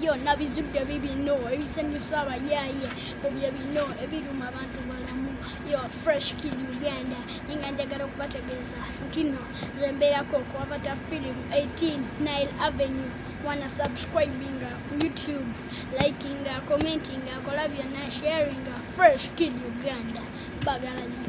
yo nabizudde bibino ebisanyusa abayaaye kubye bino ebiruma abantu balamu yo fresh kid uganda ninga njagala okubategeeza ntino zembeerako okuwabata film 18 nile avenue wana subscribinga ku youtube likinga commentinga akola byonna sharinga fresh kid uganda bagala nyo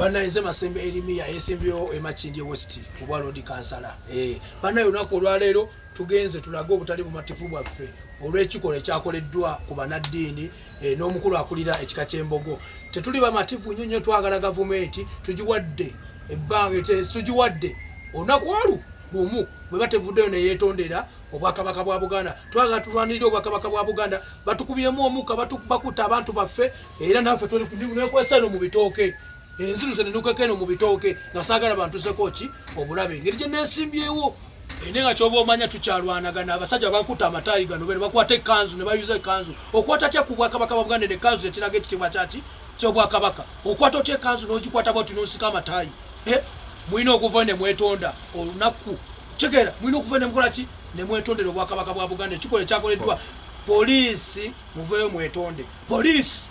banaye nze masembe erimiya esimbyewo emakindye west obwa lodi kansala eh, banaye olunaku olwaleero tugenze tulage obutali bumativu bwaffe olw'ekikolwa ekyakoleddwa ku banaddiini eh, n'omukulu akulira ekika ky'embogo tetuli bamativu nnyo nnyo twagala gavumenti tugiwadde ebbanga tugiwadde olunaku olu lumu bwe batevuddeyo neyeetondera obwakabaka bwa buganda twagala tulwanirira obwakabaka bwa buganda batukubyemu omukka bakuta abantu baffe era naffe nekwesano mu bitooke enziruse nenukekeno mu bitooke nga saagala bantuseko ki obulabe engeri gye nesimbyewo ene nga kyoba omanya tukyalwanagana abasajja bakuta amataayi gano bene bakwata ekanzu ne bayuza ekanzu okwata tya ku bwakabaka bwa buganda nekanzu ekiraga ekitiibwa kyaki kyobwakabaka okwata otya ekanzu n'ogikwata bwati n'onsika amataayi eh, mulina okuva ne mwetonda olunaku kitegeera mulina okuva ne mukola ki ne mwetondera obwakabaka bwa buganda ekikola ekyakoleddwa poliisi muveeyo mwetonde poliisi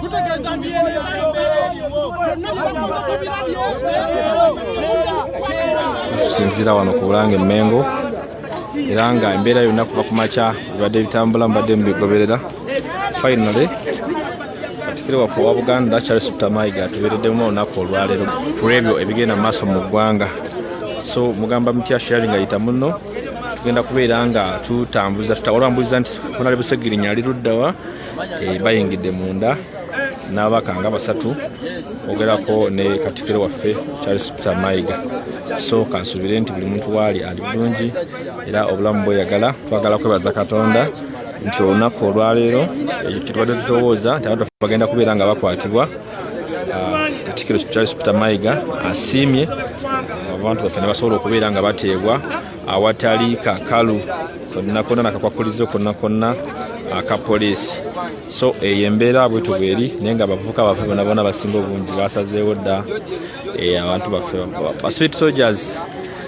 kutegeeza nti yeno tusinziira wano ku bulange mmengo era nga embeera yonna kuva ku makya ebibadde bitambula mbadde mubigoberera Finally, katikiro waffe owa buganda charles ptamayiga atubeereddemu olunaku olwaleero ku ebyo ebigenda mu maaso mu ggwanga so mugamba mutya sharing ayita muno tugenda kubeera nga tutambuza tutawalwambuliza nti kunali busegirinya ali luddawa eh, bayingidde munda n'abaka nga basatu ogerako ne katikiro waffe charles peter mayiga so kansuubire nti buli muntu waali ali bulungi era obulamu bweyagala twagala kwebaza katonda nti olunaku olwaleero eh, kyetubadde tutowooza nti abantu bagenda kubeera nga bakwatibwa ah, katikiro charles peter mayiga asiimye ah, abantu baffe nebasobola okubeera nga bateebwa awatali kakalu konna konna nakakwakulizo konna konna aka poliisi so eyo embeera bwetuba eri naye nga abavubuka baffe bonabona basinga obungi basazeewo dda eh, abantu baffe basweet soldiers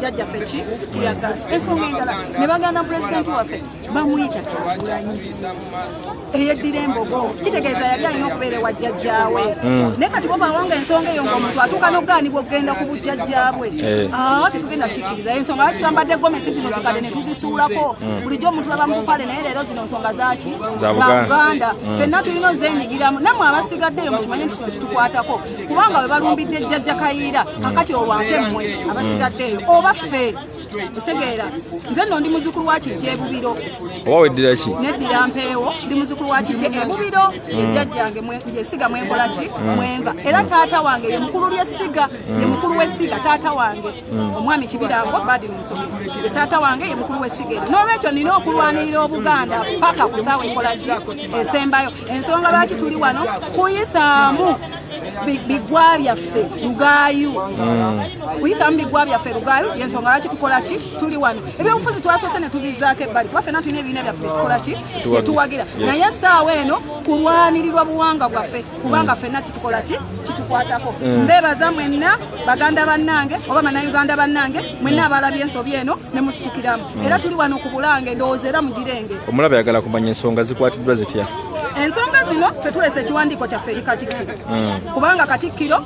jajja ffe ki tiyagasi ensonga endala ne baganda pulezidenti waffe bamuyita kyagulanyi eyeddira embogo kitegeeza yali alina okubeera ewa jjajjaawe hmm. naye kati bobawanga ensonga eyo ngaomuntu atuuka nogaanibwa okugenda ku bujjajjabwe eh. ah, tetugenda kikkiriza ensonga lwaki twambadde gomesi zino zikadde ne tuzisuulako hmm. bulijjo omuntu aba mukupale naye leero zino nsonga zaki za buganda hmm. fenna tulina ozenyigiramu namwe abasigaddeyo mukimanye nti kino kitukwatako kubanga we balumbidde jjajja kayiira kakati olwo ate mmwe abasigadde eyo oba ffe tusegeera nze nno ndi muzukulu wa kijja ebubiro oba weddira ki neddira mpeewo ndi muzukulu wa kijja ebubiro mm. ejjajjange yesiga mwenkola ki mm. mwenva era taata wange ye mukulu ly'essiga ye mm. mukulu w'essiga taata wange omwami kibirango badiri musomi ye taata wange ye mukulu w'essiga eri n'olwekyo nina okulwanirira obuganda paka ku saawa enkola ki esembayo ensonga lwaki tuli wano kuyisaamu bigwa byaffe lugaayu hmm. kuyisaamu bigwa byaffe lugaayu yensonga lwaki tukola ki tuli wano ebyobufuzi twasoose ne tubizaako ebbali kuba fena tulina ebibiina byaffe byetukola ki byetuwagira naye essaawa eno kulwanirirwa buwanga bwaffe kubanga hmm. fenna kitukola ki kitukwatako hmm. mbeebaza mwenna baganda bannange oba bannayuganda bannange mwenna abalabye ensobi eno ne musitukiramu era tuli wano ku bulange ndowooza era mugirenge omulabe ayagala kumanya ensonga zikwatiddwa zitya ensonga zino tetulese ekiwandiiko kyaffe eri katikkiro hmm. kubanga katikkiro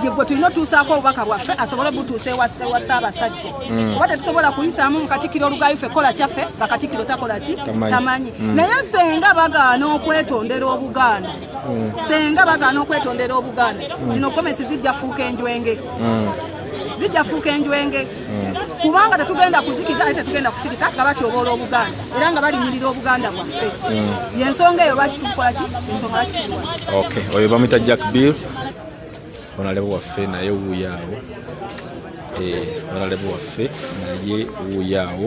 yegwe tulina otuusaako obubaka bwaffe asobole obutuusa ewa ssaabasajja hmm. oba tetusobola kuyisaamu mu katikkiro olugayo ffe kola kyaffe nga katikkiro takola ki tamanyi hmm. naye senga bagaana okwetondera obuganda senga bagaana okwetondera obuganda zino gomesi zijja fuuka enjwenge zijja fuuka enjwenge kubanga tetugenda kuzikiza naye tetugenda kusirika nga batyoboola obuganda era nga balinyirira obuganda bwaffe hmm. yensonga eyo lwaki tukukola ki ensonga lwaki tukuwa ok oyo bamuyita jack bill onalebe waffe naye wuuyaawo eh, onalebe waffe naye wuuyaawo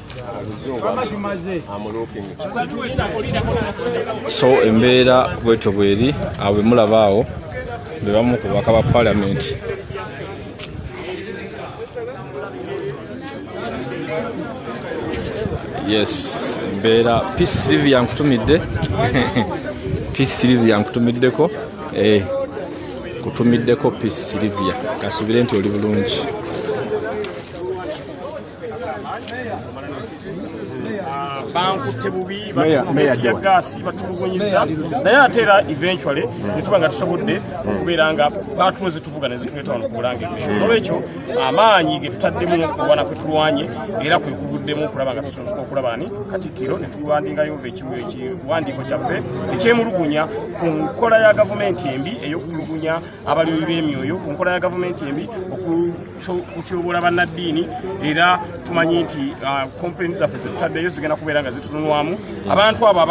so embeera bwetyo bweri awo bemulaba awo bebamu ku baka ba palamenti yes embeera peace live yankutumidde peace live yankutumiddeko eh, kutumiddeko peace silivia kasubire nti oli bulungi bankutte bubi batiyagaasi batulugunyiza naye ate era eventually netuba nga tusobodde okubeera nga patulo zetuvuga nezituleeta wano kubulange nolwekyo amaanyi getutaddemu okulwana kwetulwanye era kwekuvuddemu okulaba nga tusobola okulaba ni katikkiro netuwandingayo ekiwandiiko kyaffe ekyemulugunya ku nkola ya gavumenti embi eyokutulugunya abalimi b'emyoyo ku nkola ya gavumenti embi okutyoboola bannaddiini era tumanyi nti uh, kompeni zaffe zetutaddeyo zigenda kubeera nga zitunulwamu abantu abo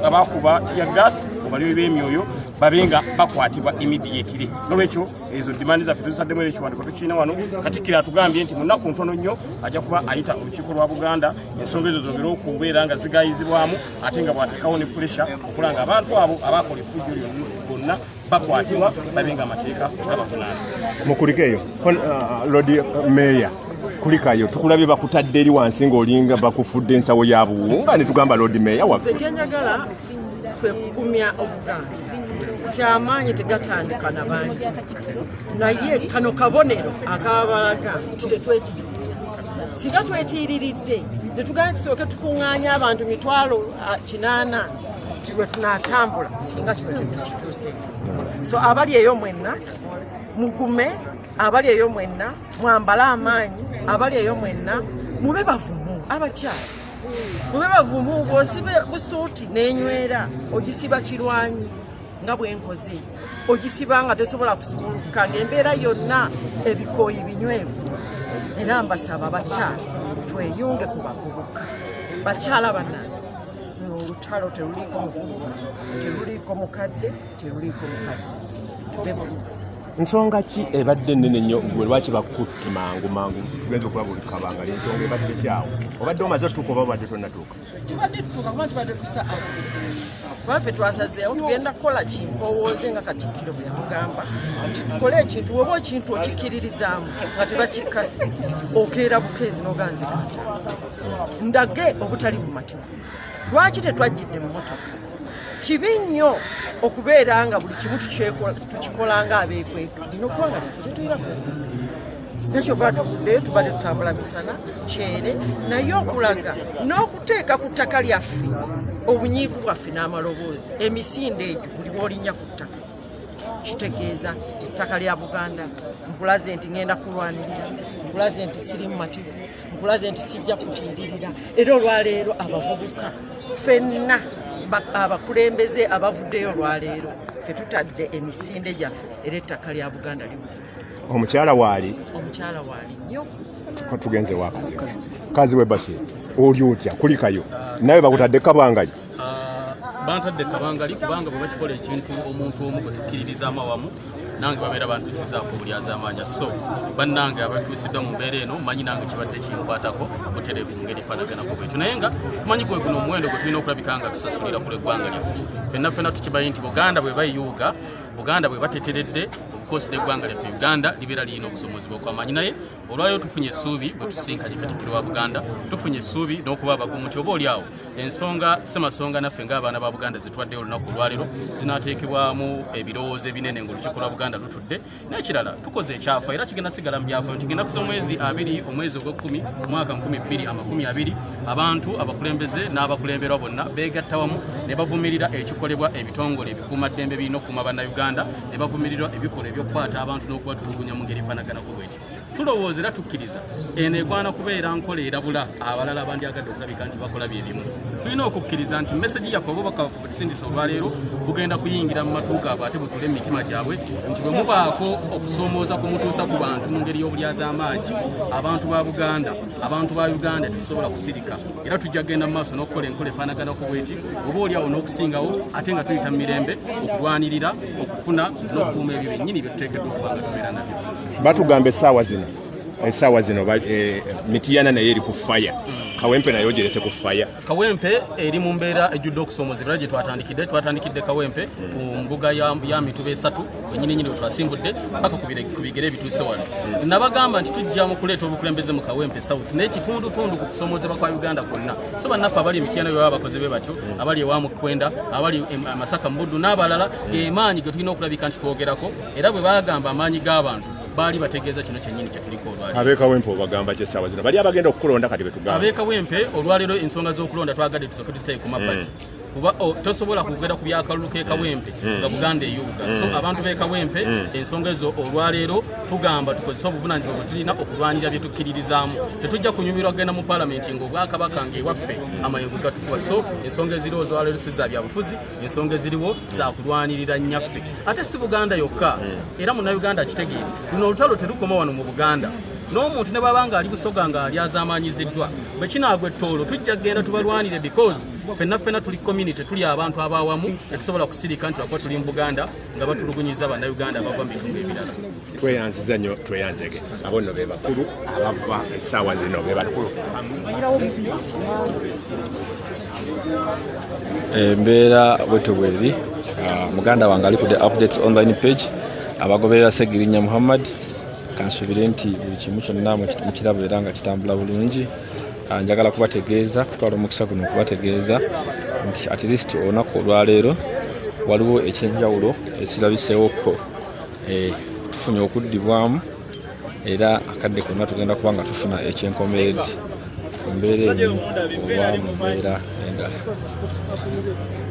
abakuba tiya gas obalimi b'emyoyo babe nga bakwatibwa immediately nolwekyo ezo dimandi zaffe tuzisaddemu era ekiwandiko tukirina wano katikkiro atugambye nti munaku ntono nnyo ajja kuba ayita olukiiko lwa buganda ensonga ezo zongere okubeera nga zigayizibwamu ate nga bwateekawo ne pulesha okulanga abantu abo abakola efujjo lino gonna bakwatibwa babe nga amateeka gabavunaana mukulikeeyo uh, lodi meeya kulikayo tukulabye bakutadde eri wansi ng'olinga bakufudde ensawo ya buwunga ne tugamba lodi meeya waffe kyenjagala kwe kugumya obuganda nti amaanyi tegatandika na bangi naye kano kabonero akabalaga nti tetwetiiriridde singa twetiiriridde netugenda tusooke tukuŋŋaanya abantu mitwalo uh, kinaana nti lwe tunaatambula singa kino kintu kituuse so abali eyo mwenna mugume abali eyo mwenna mwambale amaanyi abali eyo mwenna mube bavumu abakyala mube bavumu bwosibe busuuti nenywera ogisiba kirwanyi nga bwenkoze ogisiba nga tesobola kusumulukuka ngaembeera yonna ebikooyi binywevu era mbasaba bakyala tweyunge ku bavubuka bakyala banange luno olutalo teruliiko muvubuka teruliiko mukadde teruliiko mukazi nsonga ki ebadde enene nnyo gwe lwaki bakutte mangu mangu tugenza okulaba olikabanga lensonga ebadde kyawo obadde omaze otuuka oba obadde tonatuuka tubadde tutuuka kuba tubadde tusa kuba ffe twasazeewo tugenda kukola kimpowooze nga katikkiro bwe yatugamba nti tukole ekintu woba okintu okikkiririzaamu nga tebakikkasi okeera bukeezi noganzika ndage obutali bumativu lwaki tetwajjidde mu motoka kibi nnyo okubeera nga buli kimu tukikola nga abeekweka lina okuba nga tetuyira kwekweka nekyova tuvuddeyo tubadde tutambula misana kyere naye okulaga n'okuteeka ku ttaka lyaffe obunyiivu bwaffe n'amaloboozi emisinde egyo buli bwolinya ku ttaka kitegeeza nti ttaka lya buganda nkulaze nti ŋenda kulwanirira nkulaze nti sirimu mativu nkulaze nti sijja kutiiririra era olwaleero abavubuka fenna abakulembeze abavuddeyo olwaleero fetutadde emisinde gyaffe era ettaka lya buganda limu omukyala waali omukyala waali nyo tugenze wakazi kazi webasi oli otya kulikayo nawe bakutadde kabangali Ah, bantadde kabangali kubanga bwe bakikola ekintu omuntu omu gwe tukkiririzaamu awamu nange babeera bantusizaako obulyazamaanya so bannange abatuusiddwa mu mbeera eno manyi nange kibadde kinkwatako butereevu mu ngeri fanaganako bwetu naye nga tumanyi gwe guno omuwendo gwe tulina okulabika nga tusasulira ku lweggwanga lyaffe fenna fena tukimanyi nti buganda bwe bayuuga buganda bwe bateteredde obukosi n'eggwanga lyaffe uganda libeera lirina obusomozi bwokwamaanyi naye olwaliro tufunye essuubi bwe tusinkanye katikiro wa buganda tufunye essuubi n'okuba abagumu nti oba olyawo ensonga semasonga naffe ng'abaana ba buganda zitwaddeyo olunaku olwaliro zinateekebwamu ebirowoozo ebinene ngaolukiiko lwa buganda lutudde n'ekirala tukoze ekyafa era kigenda sigala mu byafayo nti genda kusa omwezi abiri omwezi ogw'ekkumi mwaka nkumi bbiri amakumi abiri abantu abakulembeze n'abakulemberwa bonna beegatta wamu ne bavumirira ekikolebwa ebitongole ebikuumaddembe birina okukuuma bannayuganda ne bavumirirwa ebikolwa ebyokukwata abantu n'okubatulugunya mu ngeri efanagana tulowooza era tukkiriza eno egwana kubeera nkola erabula abalala abandyagadde okulabika nti bakola bye bimu tulina okukkiriza nti mesegi yaffe obubaka baffe bwetusindisa olwaleero bugenda kuyingira mu matu gaabwe ate butule mu mitima gyabwe nti bwe mubaako okusoomooza ku mutuusa ku bantu mu ngeri y'obulyazaamaanyi abantu ba buganda abantu ba uganda tetusobola kusirika era tujja kugenda mu maaso n'okukola enkola efaanagana ku bweti oba oli awo n'okusingawo ate nga tuyita mu mirembe okulwanirira kufuna n'okukuuma ebyo byennyini bye tuteekeddwa okuba nga tubeera nabyo batugamba essaawa zino esaawa zino eh, mitiyana naye eri ku faya kawempe naye ogerese ku faya kawempe eri mu mbeera ejjudde okusoomozebwa era gye twatandikidde twatandikidde kawempe ku mbuga ya mituba esatu wenyininyini wetwasimbudde paka ku bigere ebituuse wano nabagamba nti tujja mu kuleeta obukulembeze mu kawempe south n'ekitundutundu ku kusoomozebwa kwa uganda kwonna so bannaffe abali emityana bye baba bakoze be batyo abali ewa mukwenda abali amasaka mu buddu n'abalala gemaanyi ge tulina okulabika nti twogerako era bwe bagamba amaanyi g'abantu baali bategeeza kino kyennyini kyetuliko olwalero abekawempe obagamba kyesaawa zino bali abagenda okukulonda kati betugamba abekawempe olwalero ensonga z'okulonda twagadde tusooke tuzitaye ku mabbali mm. kuba oh, tosobola kwogera ku byakalulu kekawempe hmm. nga buganda eyubuga so hmm. abantu bekawempe hmm. ensonga ezo olwaleero tugamba tukozese obuvunanyizibwa bwetulina okulwanira byetukkiririzaamu tetujja kunyumirwa kugenda mu palamenti nga obwakabaka nga ewaffe amayengo gatukuba so ensonga eziriwo zolwaleero si za byabufuzi ensonga eziriwo zakulwanirira nyaffe ate si buganda yokka era munauganda akitegeere luno olutalo terukoma wano mu buganda n'omuntu ne bwaba nga ali busoga nga ali azamaanyiziddwa bwe kinaagwa ettoolo tujja kugenda tubalwanire because fenna fenna tuli community tuli abantu abawamu tetusobola kusirika nti wakuba tuli mu buganda nga batulugunyiza bannayuganda abava mu bitundu ebirala tweyanziza nyo tweyanzege abo nno be bakulu abava essaawa zino be bakulu embeera eh, bwetyo bweri ah, muganda wange ali ku the updates online page abagoberera segirinya muhammad kansuubire nti buli kimu kyonna mukiraba era nga kitambula bulungi Ah, njagala kubategeeza kutwala omukisa guno okubategeeza nti at least olunaku olwaleero waliwo ekyenjawulo ekirabiseewoko eh, tufunye okuddibwamu era akadde konna tugenda kuba nga tufuna ekyenkomeredde embeera eno oba mu mbeera endala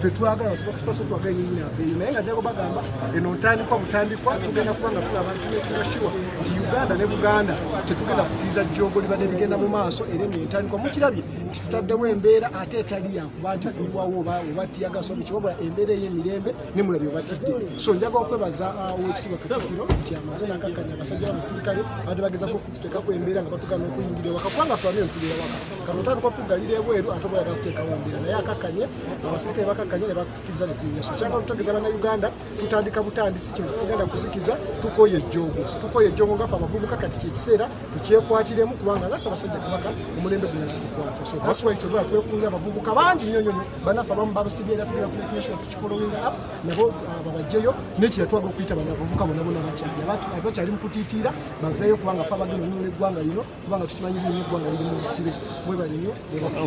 tetwagala spokesperson twagala yenyini aveeyo naye nga jagobagamba eno ntandikwa butandikwa tugenda kuba nga tulaba ntinekirashiwa nti uganda ne buganda tetugenda kukiriza jjoogo libadde ligenda mu maaso era eno entandikwa mukirabye nti tutaddewo embeera ate etali yakuba nti kuliwawo oba tiyagasobi kiwabula embeera ey'emirembe ne mulabi obatidde so njaga okwebaza uh, owekitiibwa katikiro nti amaze nakakkanya abasajja b'abasirikale badde bagezako okututeekako embeera nga batugana okuyingira ewaka kubanga tulamire tubeera waka kano otandika okutugalira ebweru ate oba yaga kuteekawo embeera naye akakkanye abasirikale bakakkanye ne batukiriza ne tuyingira so kyanga okutogeza bannayuganda tutandika butandisi kino tugenda kuzikiza tukoye ejjoogo tukoye ejjoogo ngafe abavubuka kati kyekiseera tukyekwatiremu kubanga nga sabasajja kabaka omulembe guno tutukwasa so that's why kyoba twekunga abavubuka bangi nnyo nnyo banaffe abamu babasibye era tugenda kumake nation tukifolowinga up nabo uh, babajjeyo nekira twaga okuyita banabavubuka bonabona bakyali abakyali mu kutiitiira baveeyo kubanga fe abagenda onyola eggwanga lino kubanga tukimanyi bino eggwanga liri mu busibe mwebalinyo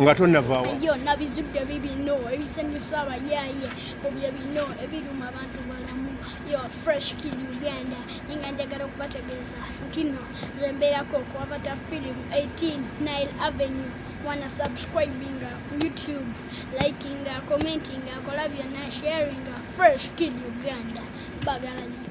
nga tonavaawo yo nabizudde bibino ebisanyusa abayaaye obye bino ebiruma abantu balamu yo fresh kid uganda ninga njagala okubategeeza ntino nze mbeerako okuwabata film 18 nile avenue wana subscribinga ku youtube likinga commentinga akola byonna sharinga fresh kid uganda bagala nyo